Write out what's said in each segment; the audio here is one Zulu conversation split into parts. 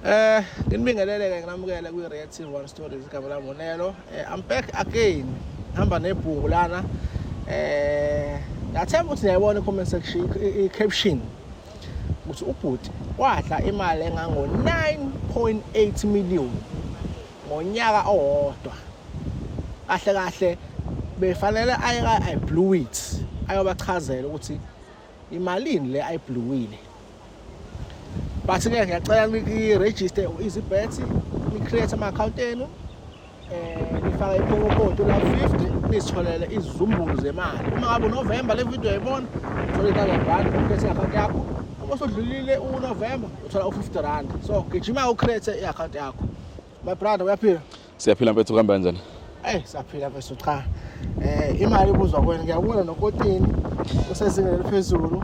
Eh nginibingelele ke nginamukele kwi Reactive One Stories igama lami uNelo. Eh I'm back again. Hamba nebhuku lana. Eh ngathemba ukuthi niyayibona i comment section i caption ukuthi ubhuti wadla imali engango 9.8 million ngonyaka owodwa. Kahle kahle befanele aye ka I blew it ayobachazela ukuthi Imalini le ayibluwile. Bathi ke ngiyacela niki register easy bets, ni create ama account enu. Eh nifaka ipromo code la 50 nisitholele izizumbulu zemali. Uma ngabe November le video yayibona, uthola i-1,000 rand ukhethe i-account yakho. Uma usudlulile uNovember uthola u-50 rand. So gijima ucreate i-account yakho. My brother uyaphila. Siyaphila mfethu kuhamba kanjani? Eh siyaphila mfethu cha. Eh imali ibuzwa kwena ngiyabona nokotini usezingeni eliphezulu.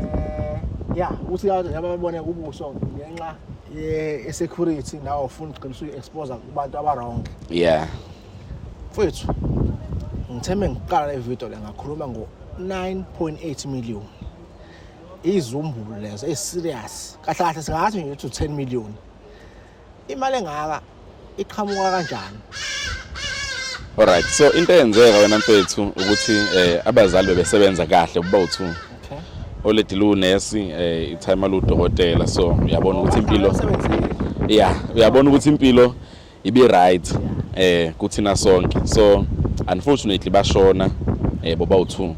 Eh ya uthi abantu yababone kubuso ngenxa ye security nawo ufuna uqinisa uexpose kubantu abarong. Yeah. Mfethu ngithembe ngiqala le video le ngakhuluma ngo 9.8 million. Izumbulo lezo eserious. Kahle kahle singathi nje 10 million. imali engaka iqhamuka kanjani Alright so into eyenzeka wena mfethu ukuthi eh abazali bebesebenza kahle kuba uthu okay oledi lu nurse eh itime lu dokotela so uyabona ukuthi impilo yeah uyabona ukuthi impilo ibi right eh kuthina sonke so unfortunately bashona eh boba uthu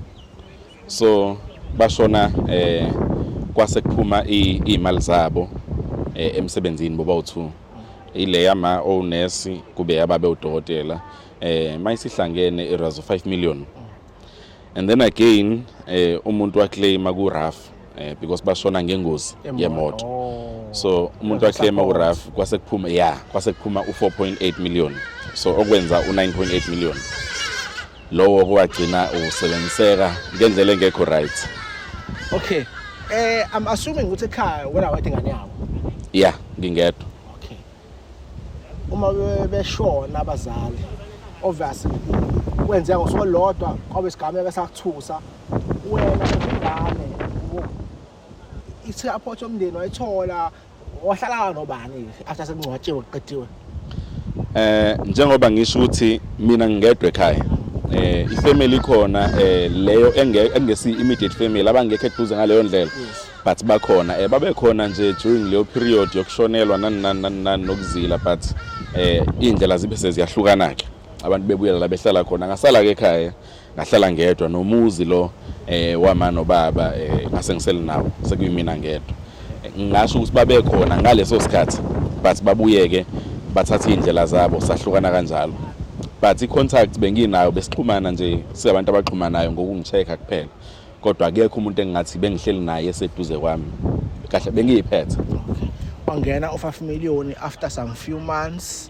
so bashona eh kwase kuphuma izimali zabo eh, emsebenzini boba u2 ile yama onesi kube yababe udokotela eh mayisihlangene irazo 5 million and then again eh umuntu waclaima ku RAF eh because bashona ngengozi yemoto oh. so umuntu waclaima ku RAF kwase kuphuma yeah kwase kuphuma u 4.8 million so okwenza u 9.8 million lowo kwagcina usebenziseka ngendlela engekho right okay eh i'm assuming ukuthi ekhaya wena wathi ngane yakho yeah ngingedwa okay uma beshona abazali obviously kwenzeka ngosuku olodwa kwabe sigameka sakuthusa wena ingane ithe aphothi omndeni wayithola wahlala nobani after sekungcwatshiwe kuqediwe eh njengoba ngisho ukuthi mina ngingedwa ekhaya eh ifamily ikhona eh leyo engesi immediate family abangekho eduze ngaleyo ndlela but bakhona eh babekhona nje during leyo period yokushonelwa nani nani nani nokuzila but eh indlela zibe seziyahlukana ke abantu bebuyelela behlala khona ngasala ke ekhaya ngahlala ngedwa nomuzi lo eh wama nobaba eh ngase ngisele nawo sekuyimina ngedwa ngasho ukuthi babekhona ngaleso sikhathi but babuyeke bathatha indlela zabo sahlukana kanjalo but i-contact benginayo besixhumana nje singabantu abaxhumanayo ngokungicheck-a kuphela kodwa akekho umuntu engingathi bengihleli naye eseduze kwami kahle bengiyiphethe wangena u-5 million after some few months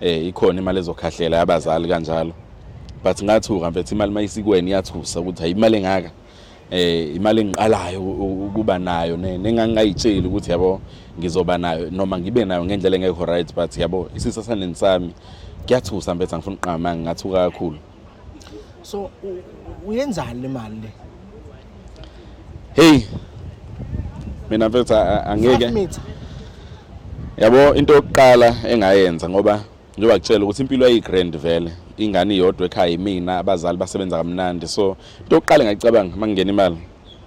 eh ikhona imali ezokhahlela yabazali kanjalo but ngathuka mfethu imali mayisikweni iyathusa ukuthi ayimali engaka eh imali engiqalayo ukuba nayo nengangayitsheli ukuthi yabo ngizoba nayo noma ngibe nayo ngendlela engekho right but yabo isisa saneni sami kuyathusa mfethu angifuni uqama ngathuka kakhulu so uyenzani le mali le hey mina mfethu angeke yabo into yokuqala engayenza ngoba njengoba kutshela ukuthi impilo ayigrand vele ingane iyodwa ekhaya imina abazali basebenza kamnandi so into yokuqala engayicabanga uma ngingena imali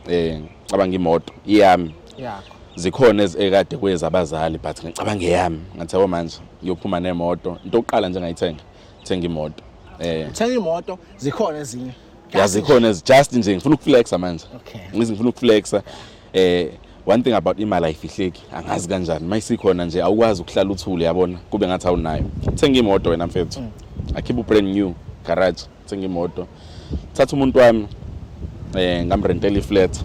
eh cabanga imoto iyami yakho zikhona ezikade kwezabazali but ngicabanga eyami ngathi yabo manje ngiyophuma nemoto into yokuqala nje ngayithenga thenga imoto eh thenga imoto zikhona ezinye yazikhona as just nje ngifuna ukuflexa manje okay ngifuna ukuflexa eh one thing about imali ayifihleki angazi kanjani mayisikhona nje awukwazi ukuhlala uthule yabona kube ngathi awunayo thenga imoto wena mfethu mm. akhipha ubrand new garage thenga imoto thatha umuntu wami eh ngamrentela iflat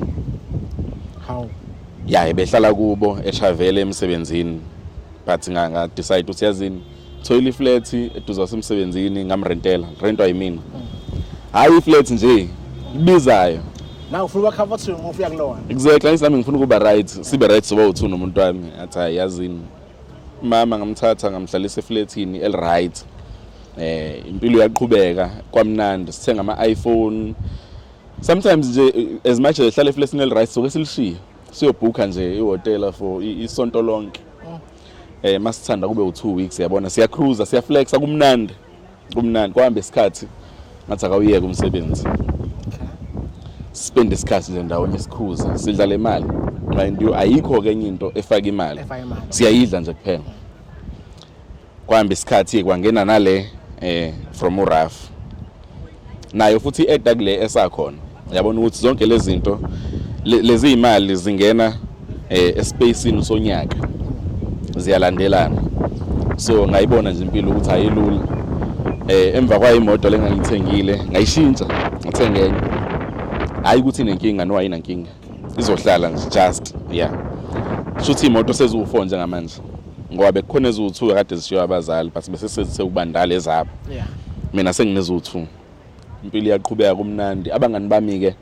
how ya ebehlala kubo eshavele emsebenzini but nga decide uthi yazini thoyile iflat eduze wasemsebenzini ngamrentela rentwa yimina hayi iflat nje ibizayo na ufuna uba comfortable ngoba uya kulona exactly ngisami ngifuna ukuba right sibe right soba uthu nomuntu wami athi hayi yazini mama ngamthatha ngamhlalisa eflatini el right eh impilo yaqhubeka kwamnandi sithenga ama iPhone sometimes nje as much as ehlala eflatini el right soke silishiye siyobhukha nje ihotela for isonto lonke eh masithanda kube u2 weeks yabona siya cruiser siya flexa kumnandi kumnandi kwahambe isikhathi ngathi akawuyeke umsebenzi spend isikhathi nje ndawonye sikhuza sidlala imali mind you ayikho ke enye into efaka imali siyayidla nje kuphela kwahambe isikhathi kwangena nale eh from uraf nayo futhi i-eda kule esakhona yabona ukuthi zonke lezi zinto lezi imali zingena eh, espacini sonyaka ziyalandelana so ngayibona nje impilo ukuthi ayilula eh emva kwayo imoto lengangithengile ngayishintsha ngithenga enye hayi ukuthi inenkinga no ayinankinga izohlala nje just yeah shuthi imoto seziwu4 njengamanje ngoba bekukhona eziwu2 kade zishiya abazali but bese sekubandala ezabo yeah mina sengineziwu2 impilo iyaqhubeka kumnandi abangani bami ke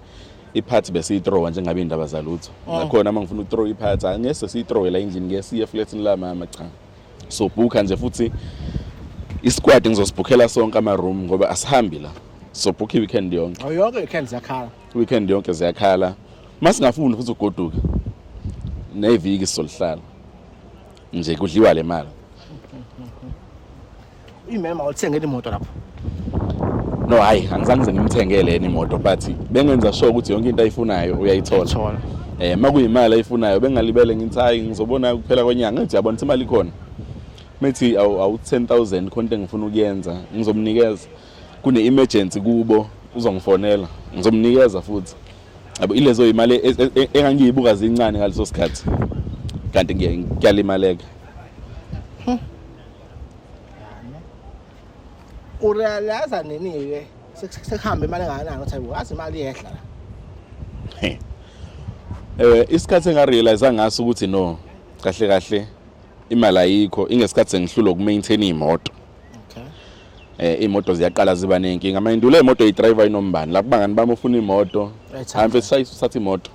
iphathi besiyithrowa njengabe indaba zalutho oh. nakhona uma ngifuna ukuthrowa iphathi angese siyithrowe la endlini ngeke siye flatini la mama cha so booker nje futhi isikwadi ngizosibhukhela sonke ama room ngoba asihambi la so book i-weekend yonke oh, yonke i-weekend ziyakhala weekend yonke ziyakhala masingafuni futhi ugoduka neviki solihlala nje kudliwa le mali imema uthengele imoto lapho no hayi angizange ngize ngimthengele yena imoto but bengenza sure ukuthi yonke into ayifunayo uyayithola eh makuyimali ayifunayo bengalibele ngithi hayi ngizobona kuphela kwenyanga ngithi yabona imali ikhona methi awu 10000 khonto engifuna ukuyenza ngizomnikeza kune emergency kubo uzongifonela ngizomnikeza futhi yabo ilezo imali e, e, e, engangiyibuka zincane ngaleso sikhathi kanti ngiyalimaleka hmm. urealiza nini ke sekuhamba imali engakanani uthi wazi imali yehla la eh isikhathi engarealize ngaso ukuthi no kahle kahle imali ayikho ingesikhathi sengihlulwa ukumaintain imoto eh imoto ziyaqala ziba nenkinga mayindule imoto idriver inombani lapho bangani bami ufuna imoto hambe sisayithatha imoto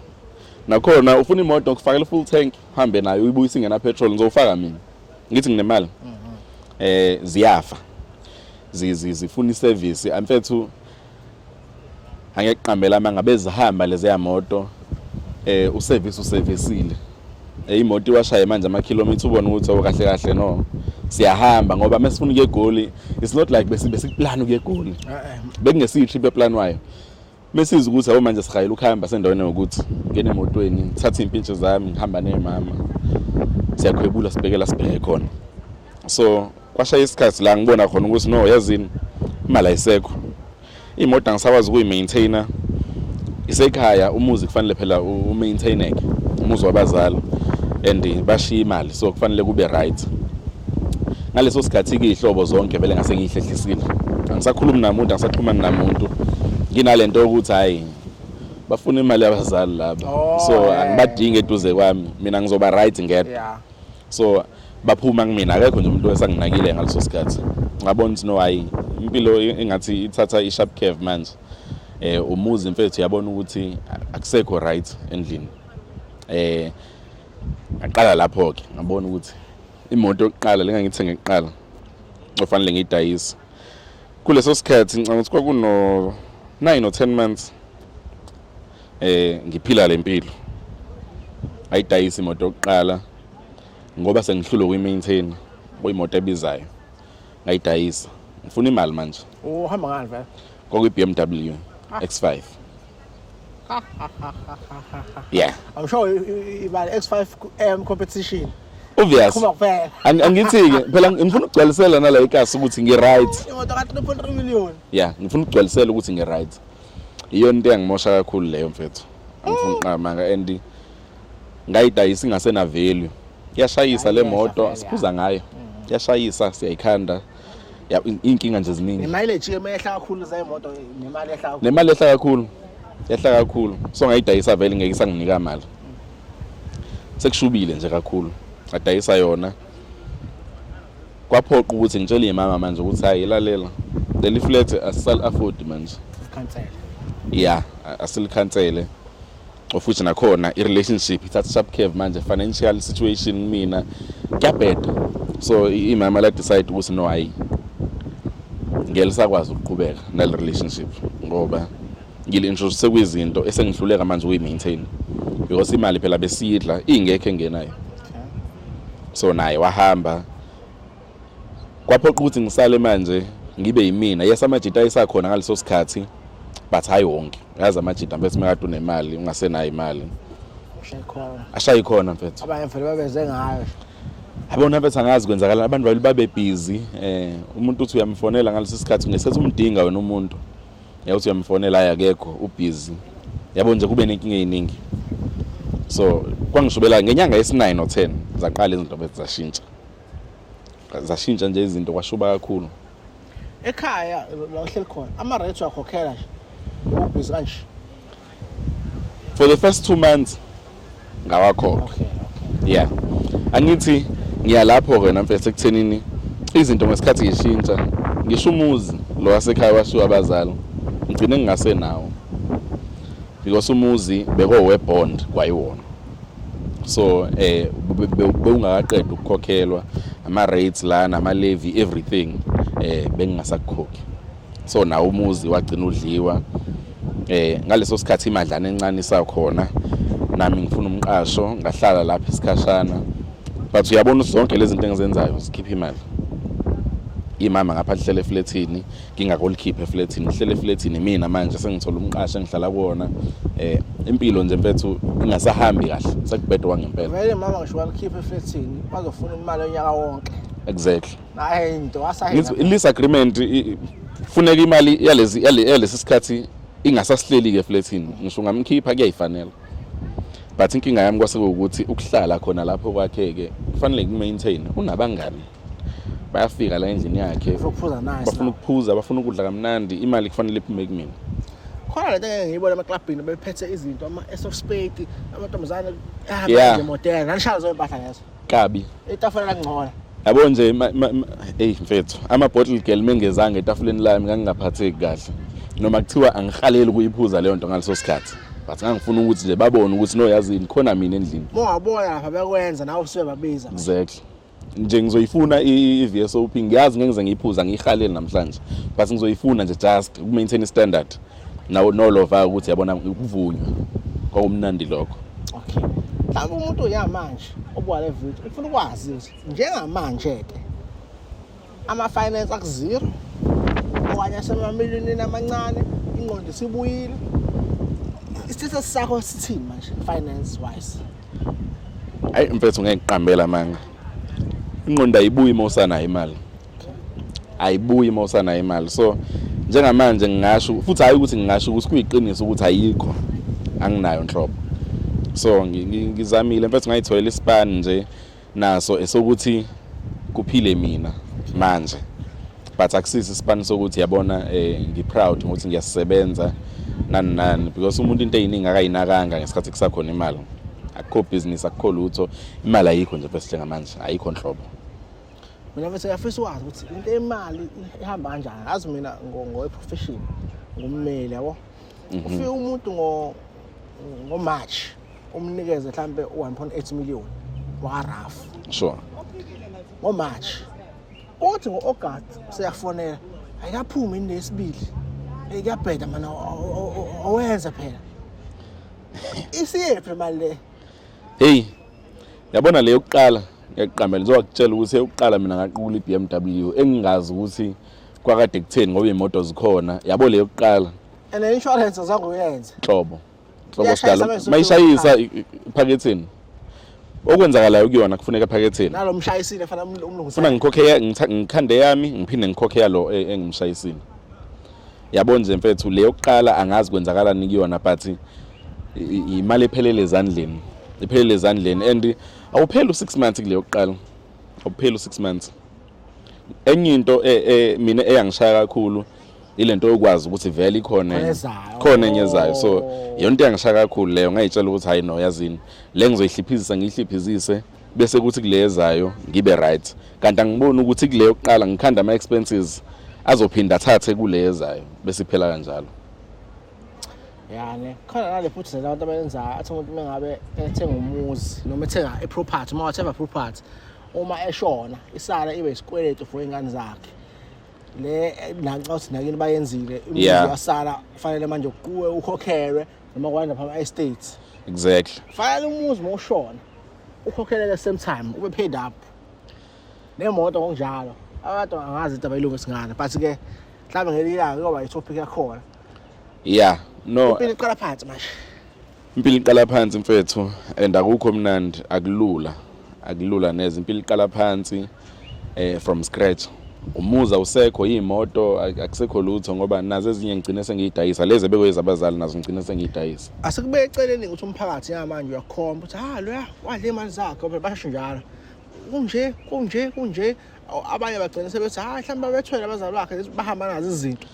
nakhona ufuna imoto ngikufakela full tank hambe nayo uyibuyisa ingena petrol ngizofaka mina ngithi nginemali mhm. eh ziyafa zifuna iservice amfethu angeke kuqambela amanga bezihamba lezeya moto eh uservice uservisile eh, imoto iwashaye manje ama kilometer ubona ukuthi awukahle oh, kahle no siyahamba ngoba mesifuna ukuye egoli it's not like bese besiplan ukuye egoli eh, eh. bekungesiyi trip eplan wayo mesiza ukuthi abo manje sihayela ukuhamba sendaweni yokuthi ngene emotweni ngithathe impintshe zami ngihamba nemama siyakhwebula sibhekela sibheke khona so kwashaya isikhathi la ngibona khona ukuthi no yazini imali ayisekho imoto angisakwazi ukuyi-maintainer isekhaya umuzi kufanele phela u-maintaineke umuzi wabazali and bashiya imali so kufanele kube right ngaleso sikhathi-ke iy'hlobo zonke vele ngase ngiyihlehlisile angisakhulumi namuntu angisaxhumani namuntu nginale nto yokuthi hhayi bafuna imali yabazali laba oh, so angibadingi eduze kwami mina ngizoba right ngedwa so baphuma kumina akekho nje umuntu esanginakile ngaleso sikhathi ngabona ukuthi no hayi impilo engathi ithatha i-sharp curve manje eh umuzi mfethu yabona ukuthi akusekho right endlini eh ngaqala lapho ke ngabona ukuthi imoto yokuqala lengangithenge kuqala ofanele ngiyidayise kuleso sikhathi ngicabanga ukuthi kwakuno 9 or 10 months Eh ngiphila lempilo. Ayidayisi imoto yokuqala ngoba sengihlulwe kuyimaintain kuyimoto ebizayo. Ngayidayisa. Ngifuna imali manje. Uhamba ngani vele? Kwakuyi BMW ah. X5. yeah. I'm sure imali X5 AM competition. obvious angithi-ke phela ngifuna ukugcwalisela nala ikasi ukuthi ngi-right imoto ka-3.3 million ya ngifuna ukugcwalisela ukuthi ngi-right iyona into engimosha kakhulu leyo mfethu angifuni qamanga and ngayidayisa ingasena value yashayisa le moto siphuza ngayo mm. yashayisa siyayikhanda inkinga nje ziningi nemali ejike mehla kakhulu zemoto nemali ehla kakhulu nemali ehla kakhulu ehla kakhulu so ngayidayisa vele ngeke isanginika imali sekushubile nje kakhulu adayisa yona kwaphoqa ukuthi ngitshele imama manje ukuthi hayi ilalela leli flat asisal afford manje cancel yeah asilikhansele ofuthi nakhona i-relationship ithatha sharp curve manje financial situation kumina kuyabheda so imama la decide ukuthi no hayi ngeke lisakwazi ukuqhubeka nale relationship ngoba ngilintroduce kwizinto esengihluleka manje ukuyi-maintain because imali phela besidla ingekho engenayo so naye wahamba kwaphoqa ukuthi ngisale manje ngibe yimina yes amajita ayisakhona ngaleso sikhathi but hayi wonke yazi amajita mfethu mekade unemali ungasenayo imali ashayi khona mfethu abanye mfethu babeze ngayo abona mfethu angazi kwenzakalani abantu babebhizi um eh, umuntu uthi uyamfonela ngaleso sikhathi ngesikhathi umdinga wena umuntu yawuthi uyamfonela ayi akekho ubhizi yabo nje kube nenkinga eyiningi so kwangishubela ngenyanga yesi-9 no-10 zaqala izinto bethu zashintsha zashintsha nje izinto kwashuba kakhulu ekhaya la uhleli khona ama-rates wakhokhela nje ubhizi kanje for the first two months ngawakhokha okay, okay. yeah angithi ngiya lapho ke namfese kuthenini izinto ngesikhathi ngishintsha ngisho umuzi lo wasekhaya washiwa abazali ngigcine ngingase nawo because umuzi bekowe bond kwayiwona so eh bewungakaqeda ukukhokhelwa ama rates lana ama levy everything eh bengingasakhokhi so nawo umuzi wagcina udliwa eh ngaleso sikhathi imadlana encane isakhona nami ngifuna umqasho ngahlala lapha isikhashana but uyabona zonke lezi zinto engizenzayo sikhipha imali imama ngapha lihlele eflethini ngingakolikhiphe eflethini ngihlele eflethini mina manje sengithola umqasho engihlala kuwona eh impilo nje mfethu ingasahambi kahle sekubhedwa ngempela vele mama ngisho walikhipha eflethini bazofuna imali onyaka wonke exactly Hayi nto asayina. Ngithi lease agreement funeka imali yalezi yalesi sikhathi ingasasihleli ke flatini ngisho ngamkhipha kuyayifanela but inkinga yami kwase ukuthi ukuhlala khona lapho kwakheke kufanele kumaintain unabangani bayafika la endlini yakhe bafuna ukuphuza bafuna ukudla kamnandi imali kufanele iphume kumina khona lento ngeke ngiyibone amaklabhini bephethe izinto ama-ace of spade amantombazane ahambe ngemotela nanishaya zoyo mpahla ngezo kabi etafula langcola yabo nje hey mfethu ama bottle girl mengezanga etafuleni lami ngangingaphatheki kahle noma kuthiwa angihaleli kuyiphuza leyo nto ngaleso sikhathi but ngangifuna ukuthi nje babone ukuthi no yazini khona mina endlini mongabona lapha bekwenza nawe usuke babiza exactly nje ngizoyifuna i-VSOP ngiyazi ngeke ngize ngiyiphuza ngiyihalele namhlanje but ngizoyifuna nje just ku-maintain standard nawo nolova ukuthi yabona ukuvunywa kwakumnandi lokho okay mhlawumbe umuntu uyamanje obuka le video ufuna ukwazi ukuthi njengamanje ke ama-finance akuzero okanye asemamiliyonini amancane ingqondo isibuyile isithethe sakho sithini manje finance wise ayi mfethu ngeke ngiqambela manga ingqondo ayibuyi uma usanayo imali ayibuyi uma usanayo imali so njengamanje ngingasho futhi hayi ukuthi ngingasho ukuthi kuyiqiniso ukuthi ayikho anginayo nhlobo so ngizamile mfethu ngayitholela ispan nje naso esokuthi kuphile mina manje but akusisi ispan sokuthi yabona eh ngiproud ukuthi ngiyasebenza nani nani because umuntu into eyiningi akayinakanga ngesikhathi kusakhona imali akukho business akukho lutho imali ayikho nje bese njengamanje ayikho nhlobo mina mfethu ngiyafisa ukwazi ukuthi into imali ihamba kanjani ngazi mina ngowe-profession ngummeli yabo mhm. ufike umuntu ngomarch umnikeze mhlawumbe u-one point eight million wakarafu sure ngomarch othi ngo-august seyafonela ayikaphumi ini lesibili eyi kuyabheda mana owenze phela isiyephi mali le heyi yabona le yokuqala ngiyakuqambela ngizowakutshela ukuthi eyokuqala mina ngaqukula i-bmw engingazi ukuthi kwakade kutheni ngoba iy'moto zikhona yabo le yokuqala and ne-insurance azange uyenze nhlobo nhlobo sidalo mayishayisa iphaketheni okwenzakalayo kuyona kufuneka ephaketheni nalo mshayisile fana umlungisa funa ngikhokhe ngikhande yami ngiphinde ngikhokhe yalo e, engimshayisile yabo nje mfethu le yokuqala angazi kwenzakalani kuyona but imali ephelele ezandleni iphelele ezandleni and awupheli u-six months kule yokuqala awupheli u-six months enye into e, e, mina eyangishaya kakhulu ile nto yokwazi ukuthi vele ikhona khona enye ezayo so yonto yangishaya kakhulu leyo ngayitshela ukuthi hayi no yazini le ngizoyihliphizisa ngiyihliphizise bese kuthi kule ezayo ngibe right kanti angiboni ukuthi kule yokuqala ngikhanda ama expenses azophinda athathe kule ezayo bese iphela kanjalo yani khona nale futhi nje abantu abayenzayo athi umuntu mengabe ethenga umuzi noma ethenga iproperty uma wathenga property uma eshona isala ibe isikweletu for ingane zakhe le nanxa uthi nakini bayenzile umuzi wasala kufanele manje kuwe ukhokhelwe noma kwanda phama estates exactly fayela umuzi mawushona ukhokheleke same time ube paid up nemoto ngokunjalo abantu angazi into abayilunga singane but ke mhlawumbe ngelinye ilanga kuyoba yitopic yakhona yeah no impilo iqala phansi manje impilo iqala phansi mfethu and akukho mnandi akulula akulula neze impilo iqala phansi eh from scratch umuza usekho iyimoto akusekho lutho ngoba nazo ezinye ngigcine sengiyidayisa lezi ebekuyeza abazali nazo ngigcine sengiyidayisa asikube eceleni ukuthi umphakathi yamanje uyakhomba ukuthi ha ah, loya wadle imali zakhe phela basho njalo kunje kunje kunje abanye bagcina sebethi hayi mhlawumbe babethwele abazali bakhe bahamba nazo izinto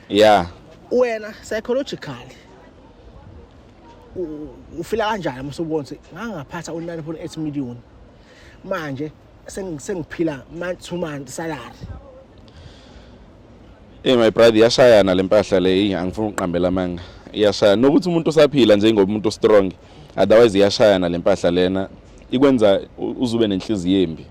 yeah wena psychologically ufila kanjani msubonse ngangaphatha u9.8 million manje sengiphila month to month salary Hey eh, my brother iyashayana lempahla leyi angifuni ukuqambela amanga iyashayana nokuthi umuntu usaphila njengoba umuntu strong otherwise iyashayana lempahla lena ikwenza uzube nenhliziyo embi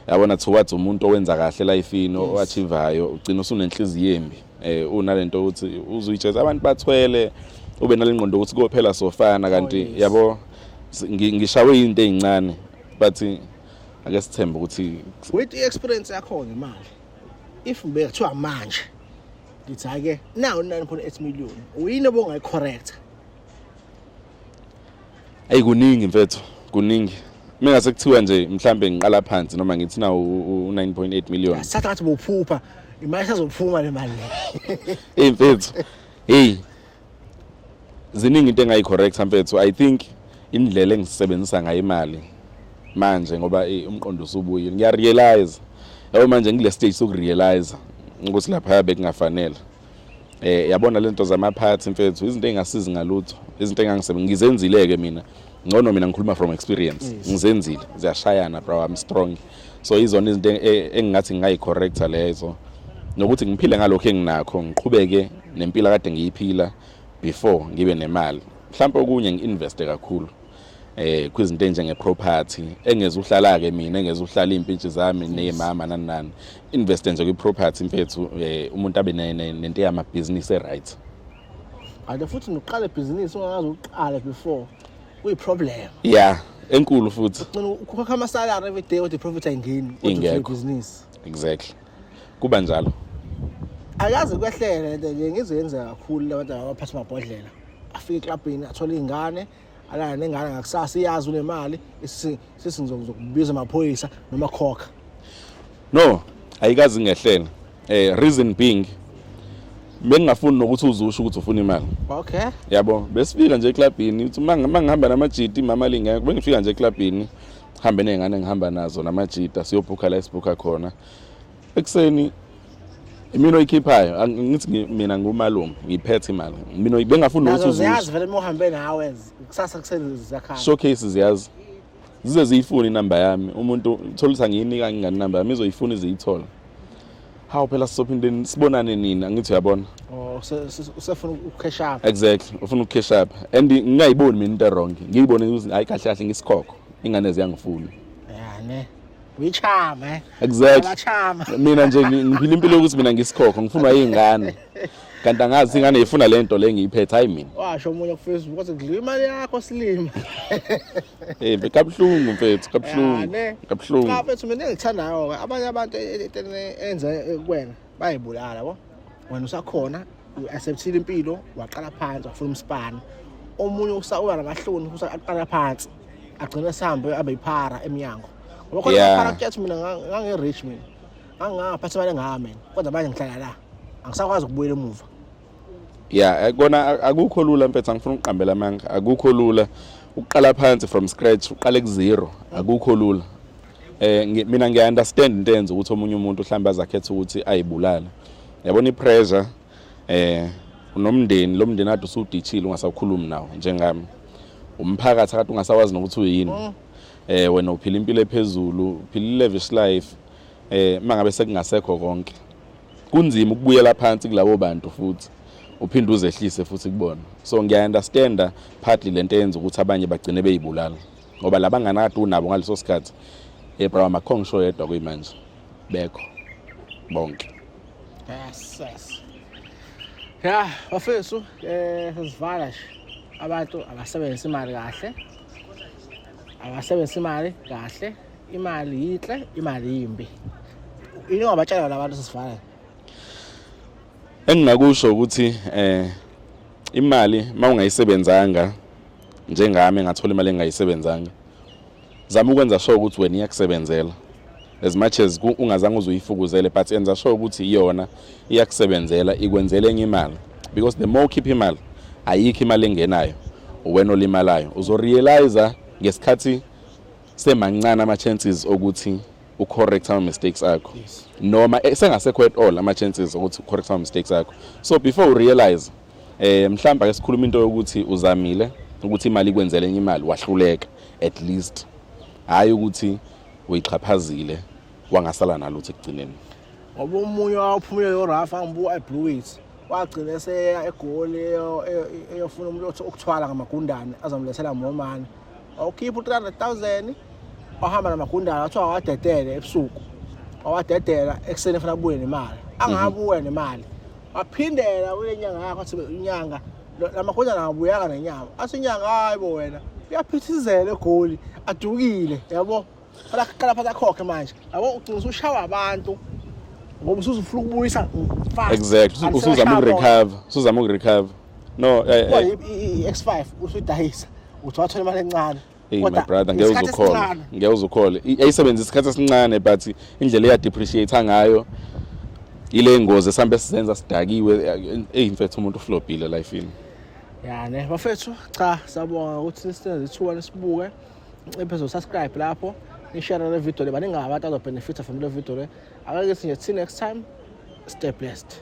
yabona towards umuntu owenza kahle lifeini oachivayo ugcina usunenhliziyo embi eh unalento ukuthi uzuyijeza abantu bathwele ube nalengqondo ukuthi kophela sofana kanti yabo ngishawe into ezincane but eh, ake sithembe ukuthi with experience yakho ngemali if ngibe kuthiwa manje ngithi ake nawo 9.8 million uyini obongayi correct ayi kuningi mfethu kuningi mina sekuthiwa nje mhlambe ngiqala phansi noma ngithi na u9.8 million sathatha bophupha imali sazophuma le mali hey mfethu hey ziningi into engayi-correct mfethu i think indlela engisebenzisa ngayo imali manje ngoba eh, umqondo usubuyile ngiyarealize yabo manje ngile stage sokurealize ukuthi lapha bekungafanele eh yabona lento zamaphathi mfethu izinto engasizi ngalutho izinto engangisebe ngizenzile ke mina ngcono mina ngikhuluma from experience ngizenzile ziyashayana bro I'm strong so izona izinto e, e, engingathi ngingayicorrecta lezo nokuthi ngiphile ngalokho enginakho ngiqhubeke nempilo kade ngiyiphila before ngibe nemali mhlawumbe okunye ngi-investe kakhulu eh kwizinto enjenge property engeze uhlala ke mina engeze uhlala impintshi zami nezimama nani nani invest nje kwi property mfethu eh, umuntu abe nento yama business e right kanti futhi nokuqala ibhizinisi ongakaze uqale before kuyiproblem ya enkulu futhi ukhokha amasalary every day kodwa iprofit ayingeni kodwa ibhizinisi exactly kuba njalo akaze kwehlele nto nje ngizoyenzeka kakhulu labantu abaphatha amabhodlela afike eklabhini athole iy'ngane alala nengane ngakusasa iyazi unemali sesizokubiza amaphoyisa noma khokha no ayikazi ngehlela eh reason being bengingafuni nokuthi uzusho ukuthi ufuna imali okay yabo besifika nje eklabhini uthi uma ngihamba namajiti mama lingeke bengifika nje eklabhini hambe nezingane ngihamba nazo namajita siyobhukha la esibhukha khona ekuseni imina oyikhiphayo ngithi mina ngumalume ngiphethe imali mina bengafuni ukuthi uzuze ziyazi vele uma uhambe nawe kusasa kuseni ziyakhala showcase ziyazi zize ziyifune inamba yami umuntu uthola ukuthi angiyinika ngingani inamba yami izoyifuna iziyithola hawu phela sizophinde sibonane nini angithi uyabona oh, usefuna ucash up exactly ufuna ucash up and ngingayiboni mina into wrong ngiyibone ukuthi hayi kahle kahle ngisikhokho ingane ziyangifuna yani Wichama eh. Exactly. Abachama. Mina nje ngiphila impilo yokuthi mina ngisikhokho ngifunwa izingane. Kanti angazi ingane ifuna lento le ngiyiphethe hayi mina. Washo omunye ku Facebook kwathi ngidliwa imali yakho silima. Eh bekabhlungu mfethu kabhlungu. Kabhlungu. Mfethu mina ngithandayo abanye abantu e- e- e- enza kuwena. bayibulala bo wena usakhona u-acceptile impilo waqala phansi wafuna umsipani omunye usawuba namahloni futhi aqala phansi agcine sihambe abe yiphara emnyango ngoba khona Yeah. iphara kuyathi mina nga- ngange-rich mina ngangaphatha imali engaka mina kodwa manje ngihlala la angisakwazi ukubuyela emuva ya eh, kona a- akukho lula mfethu angifuna ukuqambela amanga akukho lula ukuqala phansi from scratch uqale ku-zero akukho lula eh mina ngiya understand into enza ukuthi omunye umuntu mhlawumbe azakhetha ukuthi ayibulala yabona i pressure eh unomndeni lo mndeni ade usudithile ungasakhulumi nawo njengami umphakathi akade ungasawazi nokuthi uyini mm. eh wena uphila impilo ephezulu uphila i-lavish life eh mangabe sekungasekho konke kunzima ukubuyela phansi kulabo bantu futhi uphinde uzehlise futhi kubona so ngiya understanda partly lento eyenza ukuthi abanye bagcine beyibulala ngoba laba ngani akade unabo ngaleso sikhathi ebraham akho ngisho yedwa kuyimanje bekho bonke yes yes ya bafethu eh sizivala nje abantu abasebenzisa imali kahle abasebenzisa imali kahle imali yinhle imali yimbi yini ongabatshela labantu sisivala engingakusho ukuthi eh imali mawungayisebenzanga njengami ngathola imali engingayisebenzanga zama ukwenza sure ukuthi wena iyakusebenzela as much as ungazange uzuyifukuzele but enza sure ukuthi iyona iyakusebenzela ikwenzela enye imali because the more ukhipha imali ayikho imali engenayo wena olimalayo uzorealiza ngesikhathi semancane ama-chances okuthi ucorrect ama-mistakes akho noma eh, sengasekho at all ama-chances okuthi ucorrect ama-mistakes akho so before urealize Eh mhlawumbe ake sikhulume into yokuthi uzamile ukuthi imali ikwenzele enye imali wahluleka at least hayi ukuthi uyixhaphazile wangasala nalutho ekugcineni ngoba omunye wawuphumile lo Rafa ngibuka iBlue Wheat wagcina eseya egoli eyofuna umuntu othwala ngamagundane azomlethela ngomani wawukhipha u-300000 wahamba namagundana wathiwa wawadedele ebusuku wawadedela ekuseni efuna kubuye nemali angabuya nemali waphindela kule nyanga yakho athi inyanga la magundana angabuyanga nenyama athi inyanga hayi bo wena uyaphithizela egoli adukile yabo Fala qala phansi akhokhe manje. Yabo ugcina usushawa abantu ngoba usuzufuna ukubuyisa fast. Exactly. Usuzama ukurecover, usuzama ukurecover. No, eh, eh. i-X5 usuyidayisa. Uthi wathole imali encane. Hey my brother ngeke uzukhole. Ngeke uzukhole. Ayisebenza isikhathi esincane but indlela eya depreciate ngayo ile ngozi esambe sizenza sidakiwe eyi mfethu umuntu uflobhile lifeini yani bafethu cha sabonga ukuthi sisenze ithuba lesibuke nciphe zosubscribe lapho nishare le video le baningi abantu azobenefitha from le video le akake sinje till next time stay blessed